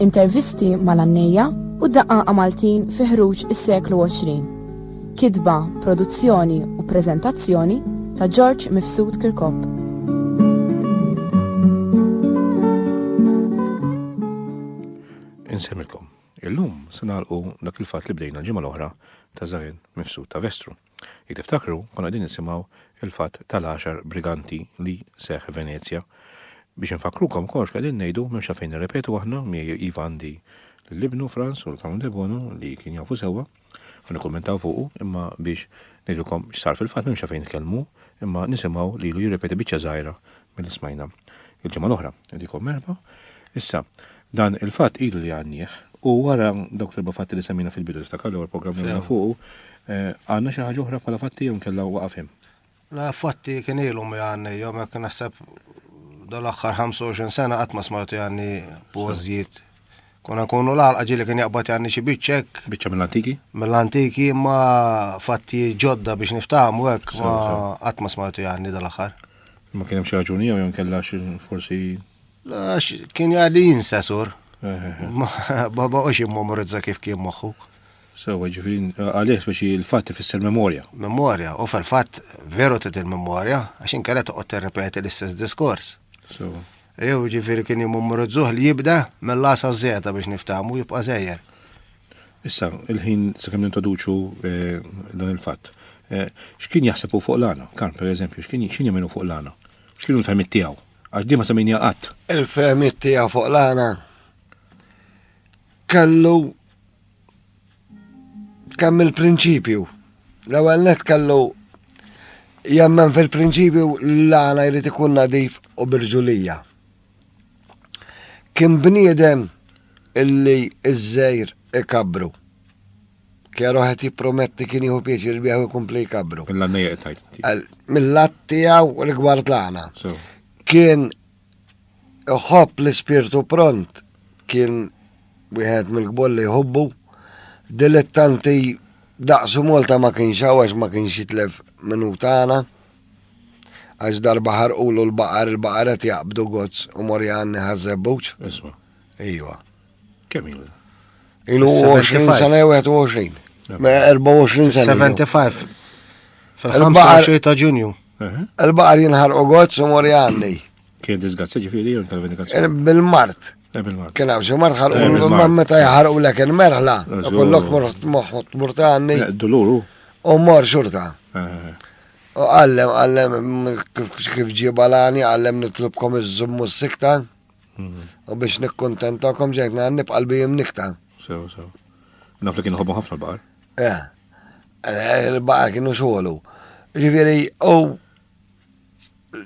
Intervisti mal-għannejja u d-daqqaqa Maltin fi ħruġ is-seklu 20. Kitba, produzzjoni u preżentazzjoni ta' Ġorġ Mifsud Kirkop. Insemmilkom. Illum se nagħlqu dak il-fatt li bdejna l-ġimgħa l-oħra ta' Żagħen Mifsud ta' Vestru. Jekk tiftakru, konna qegħdin nisimgħu il-fatt tal-għaxar briganti li seħħ Venezja. Biex infakkrukom kollox li qegħdin ngħidu m'hemmx għalfejn nirrepetu aħna, miegħi iva għandi l-ibnu Franz u l-Clown Debono li kien jafu sewwa u nikkummentaw fuqu imma biex ngħidilkom x'sar fil-fatt m'hemmx għalfejn nitkellmu imma nisimgħu lilu jirrepeti biċċa żgħira Billi smajna il-ġimgħa l-oħra dikom merħba. Issa, dan il-fatt ilu li għandnieh u wara dawk l-erba' fatti li semmina fil-bidu niftakar l-ewwel programm li fuq eh, għandna xi ħaġa oħra bħala fatti jew kellha waqafhim. La fatti kien ilu mi għanni, jom jek nasab dal-axħar 25 sena għatma smajtu għanni pożjiet Konna kunu l-għalqa ġili kien jaqbad janni xi biċċa hekk. Biċċa mill-antiki? Mill-antiki imma fatti ġodda biex niftaħmu hekk ma qatt ma smajtu janni dal-aħħar. Ma kien hemm xi raġuni jew jew kellha forsi. Għax kien jgħalli jinsa sur. Baba u xi memorizza kif kien moħħu. Sewa ġifin, għalih biex il-fatt ifisser memorja. Memorja, u fil-fatt veru t il-memorja, għax inkella toqgħod terrepeti l-istess diskors. Sewa. Ew, jiġifieri kien jimummurizzuh li jibda mill-A sa Z biex niftahmu jibqa' żejjer. Issa, il-ħin sakemm nintroduċu eh, dan il-fatt. Eh, x'kien jaħseb hu fuq l-għana? Karm, per eżempju, x'kien x'kien jemminu fuq l-għana? X'kienu l-fehmiet tiegħu? Għax di ma semmejnija qatt. Il-fehmiet tiegħu fuq l-għana kellu Kemm il-prinċipju. L-ewwel net kellu jemmen fil-prinċipju l-għana jrid ikun nadif u birġulija. Kien bniedem illi iż-żejr ikabru. Kjaru ħed jipprometti kien jieħu pieċir bieħu jkompli jkabru. Mill-għanna jgħetajt. Mill-għat tiegħu rigward l-għana. Kien Iħobb l-ispirtu pront kien wieħed mill-kbor li jħobbu. Dilettanti daqsu Malta ma kienx hawn għax ma kienx jitlef minnu tagħna. Għax darba ħarqulu l-baqar, il-baqar qed jaqbdu gozz u mor jgħanni ħaż-żebbuġ. Isma'. Ejwa. Kemm ilu? Ilu 20 sena 21. 24 sena. 75. Fil-25 ta' ġunju. Il-baqar jinħar u għod su mori għanni. Kien disgazzi ġifiri jew tal-vendikazzjoni? Eh, eh, bil-mart. Kien għaw xi mart ħarqu eh, ma meta jħarqu lek il-merħla. Kollok moħħot murta għanni. Duluru. U mor xurta. U għallem, għallem, kif ġibalani, għallem nitlubkom iż-żummu s-sikta. U biex nikkontentakom ġejt ngħan nibqa' l-bijim nikta. Sew, sew. Naf li kienu ħobbu ħafna l-baqar. Eh, eh, il-baqar kienu xogħlu. Ġifieri, u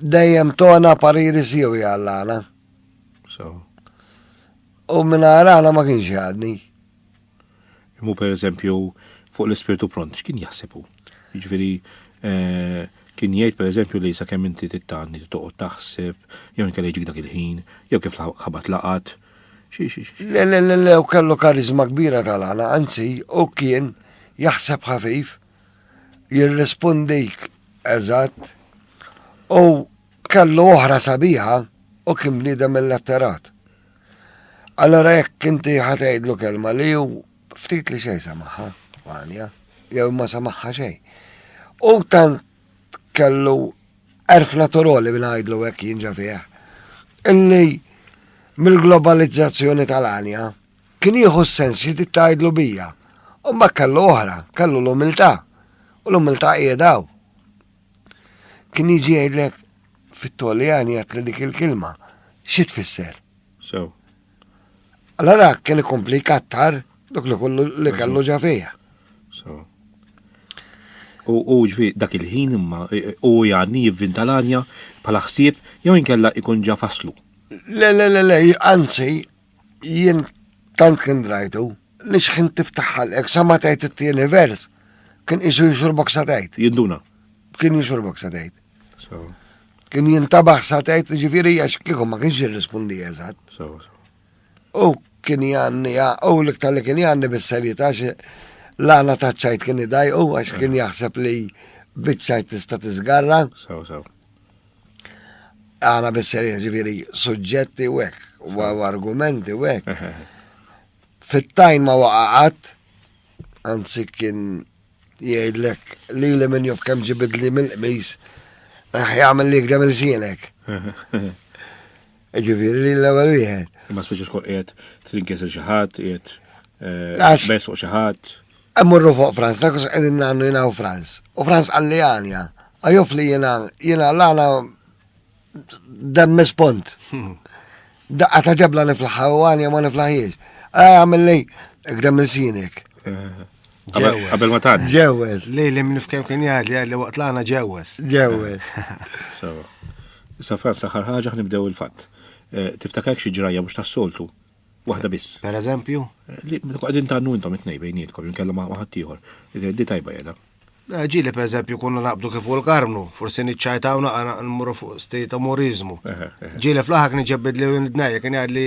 dejjem tona pariri siju jgħallana. Sew. U minna għana ma kienx jgħadni. Imma per eżempju fuq l-ispirtu pront, x'kien jaħseb hu? Jiġifieri eh, kien jgħid per eżempju li sakemm inti tittanni toqgħod taħseb, jew inkella jiġik dak il-ħin, jew kif ħabat laqat. Le, le, le, le, u kellu karizma kbira tal-għana, anzi, u kien jaħseb ħafif, jirrispondik eżatt, u kellu oħra sabiħa u kien bniedem il-letterat. Allora jekk inti ħatejdlu kelma li ju ftit li xej samaħħa, għanja, jew ma samaħħa xej. U tant kellu erf naturali minn għajdlu għek jinġa fieħ. Illi mill-globalizzazzjoni tal-għanja kien jieħu s-sens xi titgħidlu bija. U ma kellu oħra, kellu l-umiltà. U l-umiltà qiegħdaw. Kien jiġi jgħidlek fit-Toljani għat li dik il-kilma xi tfisser. So. Allora kien ikompli kattar dak li kollu li kellu ġa fija. So. U ġvi dak il-ħin imma u jgħadni jivvinta l-anja bħala ħsieb jew inkella ikun ġa faslu. Le, le, le, le, anzi, Jien tant kien drajtu li xħin tiftaħ ħalqek sa ma tgħid it-tieni vers kien qisu jixurbok sa tgħid. Jinduna. Kien jixurbok sa tgħid. Kien jintabaħ sa tgħid ġifieri għax kieku ma kienx jirrispondi eżatt. U kien janni u l-iktar li kien janni bis-serjetà l-għana ta' ċajt kien idaj u għax kien jaħseb li biċċajt tista' tiżgarra. Għana bisserja ġifiri suġġetti u hekk, u argumenti u hekk. Fit-tajn ma waqaqat, anzi kien jgħidlek li li minn jof kem ġibidli mill-qmis, ħjamil li għdem il-ġienek. Ġifieri li l-ewwel wieħed. Imma speċi xkol qiegħed trinkisel xi ħadd, qiegħed eh, bes fuq xi ħadd. Emmurru fuq Franz, dak us qegħdin nagħmlu jiena u Franz. U Franz qalli għanja, għajuf li jiena jiena l-għana demmis pont. Hmm. Daqqa ta' ġebla niflaħħa u għanja ma niflaħiex. Għamilli, għdem il-sinek. Eh. Qabel ma tgħaddi. Ġewwes, li li minn fkem kien jgħid li li waqt l-għana ġewwes. Ġewwes. Sa Franz l-aħħar ħaġa ħnibdew il-fatt. Eh, tiftakar xi ġrajja mhux tas-soltu. Waħda biss. Per eżempju? Eh, li qegħdin tannu intom it-tnej bejnietkom, jinkella ma' ħadd ieħor. Eh, di tajba jeda. Ġili per eżempju konna naqbdu kif u l-karmnu, forsi niċċajtaw naqra nmurru fuq stejta morizmu. Ġili fl-aħħar kien ġebbid li id-dnejja kien jgħid li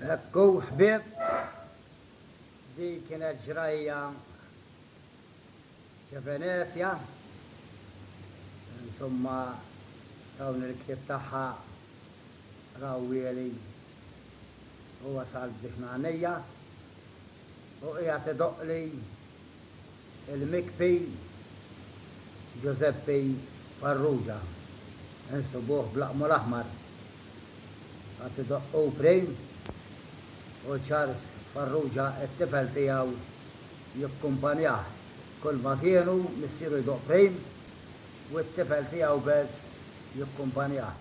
Hekk hu ħbieb, din kienet ġrajja ċevenezja, insomma dawn il-ktieb tagħha raw wieli u wasalt biex ngħannija. U qiegħed idoqqli l-mikpi Ġużeppi Farrugia, insibuh b'laqmu l-aħmar. Qagħad idoqq hu prim u Charles Farrugia t-tifel tiegħu jikkumpanjah kull ma kienu, missieru jdoqq prim u t-tifel tiegħu Bess jikkumpanjah.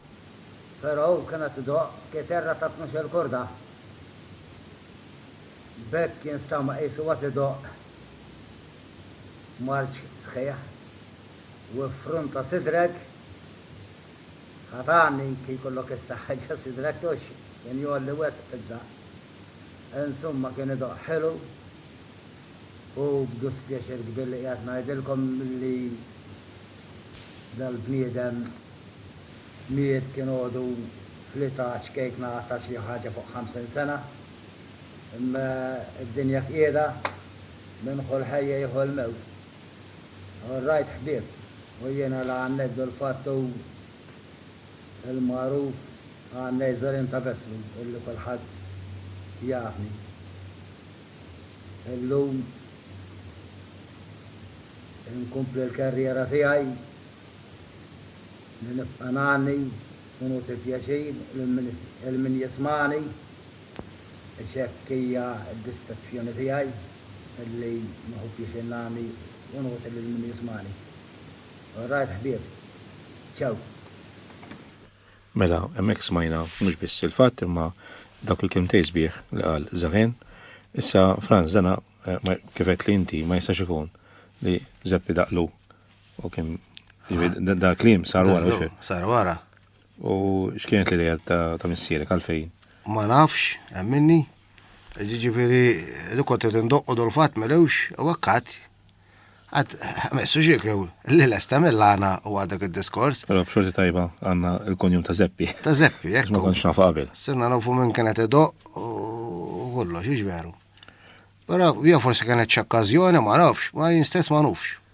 Però hu kien qed idoqq kiterra ta' tnux-il korda. B'hekk jinstama qisu qed idoqq marċ sħiħ u iffrunta sidrek. Ħa tgħanni kif jkollok issa ħeġġa sidrek hux kien jgħolli wisq fid-daqq. Insumma kien idoqq ħelu u b'duspjaċir kbir li qiegħed ngħidilkom li dal-bniedem. miet kien għodu fl-età ċkejkna ta' xi ħaġa fuq 50 sena. Imma d-dinja fqiedha, min ħu l-ħajja jieħu l-mewt. All right ħbieb, u jiena la ngħanneddu l-fatt hu l-magħruf għan Nejzorin ta' Vessru illi kulħadd jafni illum, inkompli l-kerriera tiegħi Li nibqa' ngħanni u nugħti pjaċir lil min jismagħni, għax hekk hija d-distrazzjoni tiegħi, li nieħu pjaċir ngħanni u nugħti lil min jismagħni. Alright ħbieb. Ciao. Mela, hemmhekk smajna mhux biss il-fatt imma dawk il-kelmtejn sbieħ li qal Zehn. Issa, Frans, dana, kif għedtli inti, ma jistax ikun li Żeppi Daqlu U kim, ġifieri da kliem sar wara. Sar wara. U x'kienet l-idea ta' missierek għalfejn? Ma nafx, minni. Ġifieri li kont qed indoqqu dol fatt melewx u akkat għad messu xiekew li l-esta mill-għana u għadak il-diskors. Pero b'xorti tajba għanna il-konjum ta' zeppi. Ta' zeppi, jek. Ma konx nafu qabel. Sinna nafu minn kienet edo u kollox, iġveru. Pero bija forsi kienet ċakkazjoni, ma nafx, ma jinstess ma nafx.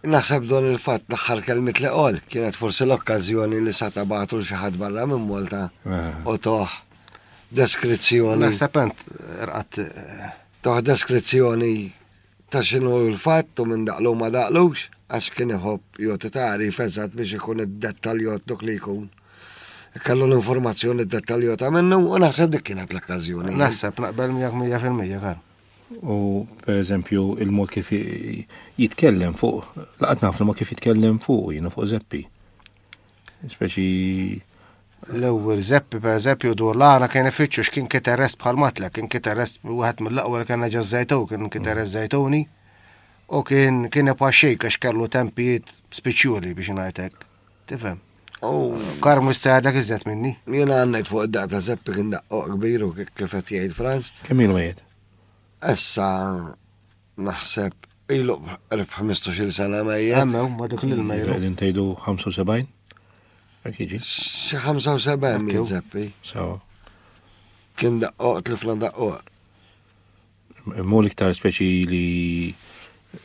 Naħseb dwar il-fatt l-aħħar kelmiet li qal kienet forsi l-okkażjoni li sa tabagħtu l xi ħadd barra minn Malta eh. u toħ deskrizzjoni. Naħseb int rqat eh, toħ deskrizzjoni ta' xinu l-fatt u minn daqlu ma daqlux, għax kien iħobb joti tari fezzat biex ikun id-dettaljot dok li jkun. Kallu l-informazzjoni dettaljota minnu u naħseb dik kienet l-okkazjoni. Naħseb naqbel miegħek 100% kar. U per eżempju il-mod kif jitkellem fuq, laqat naf il-mod kif jitkellem fuq, jina fuq zeppi. Speċi l-ewwel zeppi per eżempju dur l-għana kien ifittxu x'kien kiterrest bħal matla, kien kiterrest wieħed mill-aqwa li kien ġa żejtu, kien kiterrest żejtuni u kien kien ipaxxejk għax kellu tempijiet spiċjuli biex ngħidlek. Tifhem. U kar mhux se għadek iżjed minni. Jien għandek fuq id-daq ta' Seppi kien daqqo kbiru kif qed jgħid Franz. Kemm ilu mejjed? Issa naħseb ilu qrib 15-il sena mejjed. Għammew, ma dik l-mejru. Qegħdin tgħidu 75? Hekk jiġi. Xi 75 jien Seppi. Sawa. Kien daqqo, tlifna daqqo. Mol iktar speċi li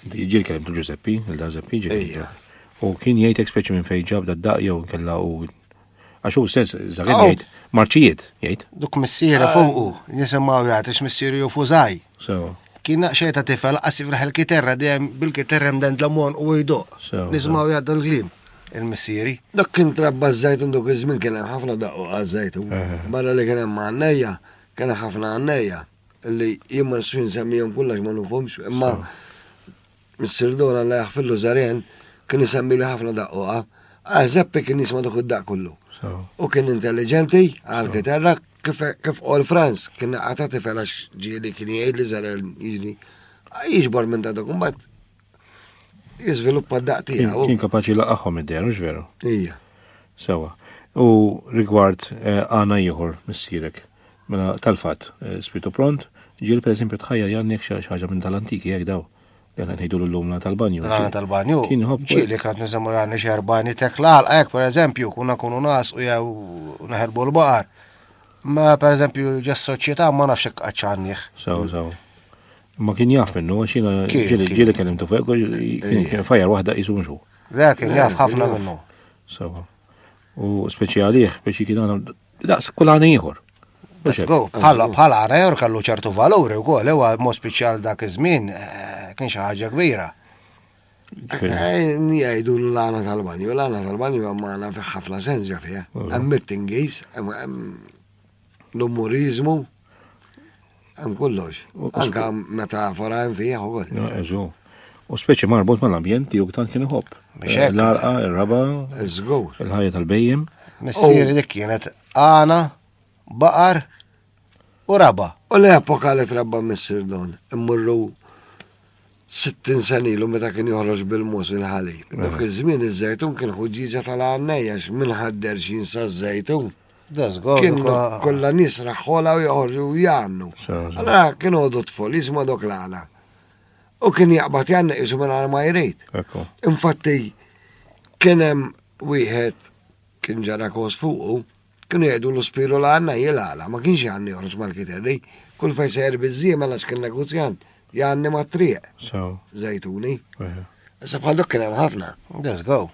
ġil kellem tu Giuseppi, il-da Zeppi ġil. U kien jgħidek speċi minn fejn ġab da daq jew kella u għax hu stess żagħir oh. jgħid marċijiet jgħid. Duk missiera ah. fuqu, nisimgħu jgħid ix missieri u fużaj. Kien naqxej ta' tifel qasif raħel kiterra dejjem bil-kiterra mden dlamon u jdoq. Nisimgħu jgħid dal-klim il-missieri. Dak kien trabba żajt dok iż-żmien kien hemm ħafna daqqu għaż-żajtun. Barra li kien hemm għannejja, kien ħafna għannejja. Li jien ma nistax insemmihom kull għax ma nufhomx, imma Missier Dora la jaħfillu Zaren kien isemmi li ħafna daqquqa. Ah, Zeppi kien jisma' dak id-daqq kollu. U kien intelligenti għal kitarra kif kif qol Franz kien naqata tifel għax ġieli kien jgħid li Zaren jiġri jiġbor minn ta' dak imbagħad Jiżviluppa d-daq tiegħu. Kien kapaċi laqahom id-dehru, veru? Ija. Sewa. U rigward eh, għana ieħor missierek. Mela tal-fatt, eh, spitu pront, ġiel per esempio tħajja jannek xi ħaġa minn tal-antiki jekk daw. Jena ngħidu l-lum la tal-banju. La tal-banju. Kien hop. Ġili kant nisemmu għanni xerbani tekla għalqek, per eżempju, kuna kunu nas u jew naħerbu l-baqar. Ma per eżempju ġes soċjetà ma nafx għadċanniħ. Saw, saw. Ma kien jaf minnu, għax jina ġili kien imtu fuq, kien fajar wahda jisu mxu. Le, kien jaf ħafna minnu. Sawa. U speċjaliħ biex jikina għana, daqs kullani jħor. Bħala bħala għarajor kallu ċertu valuri u għol, ewa mo speċjal dak iż-żmien eh, kien xi ħaġa kbira. Eh, Jgħidu l-għana tal-banju, l-għana tal-banju għamana fi ħafna sens ġafija. Għammittingis, l-umorizmu, Hemm kollox. Anka metafora hemm fih ukoll. Eżu. U speċi marbut mal-ambjent li juktan kien iħobb. Eh, l-arqa, il-raba, il-ħajja tal-bejjem. Missieri dik kienet għana, baqar u raba. U l-epoka li trabba missir don, immurru 60 senilu meta kien joħroġ bil-mus il-ħalib. Dak iż-żmien iż-żejtun kien ħuġġiġa tal-għannejja minn ħadder xinsa żejtun. Kienu kollha nies raħħola u joħorġu jgħannu. Allora kienu għodu tfol jisma dok l-għala. U kien jaqbad jgħanna jisu minn għal ma jrejt. Infatti, kien hemm wieħed kien ġara kos fuqu, kienu jgħidu l-spiru l-għanna jil-għala, ma kienx jgħanni joħroġ mal-kiterri, kull fej sejr bizzima għax kien negozjant, Janni mat-triq. So. Zejtuni. Veru. Issa bħal dok kien hemm ħafna. Let's go.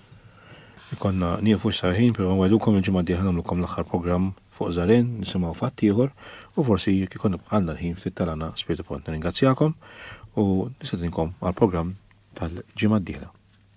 Ikonna niefu x'sarħin, però nwedukom il-ġimgħa d-dieħla nagħmlukom l-aħħar programm fuq Żarejn, nisimgħu fatt ieħor u forsi jekk ikun għandna l-ħin ftit tal-għana Spiritu Pont. Nirringrazzjakom u nistedinkom għall-programm tal-ġimgħa d-dieħla.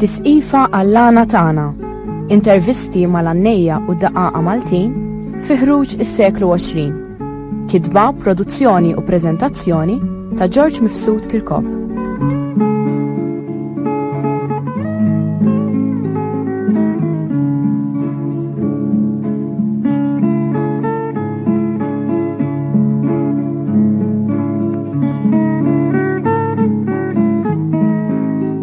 Tisqifa għall-għana tagħna, intervisti mal-għannejja u daqaqa Maltin fi ħruġ is-seklu 20. Kitba, produzzjoni u preżentazzjoni ta' George Mifsud Kirkop.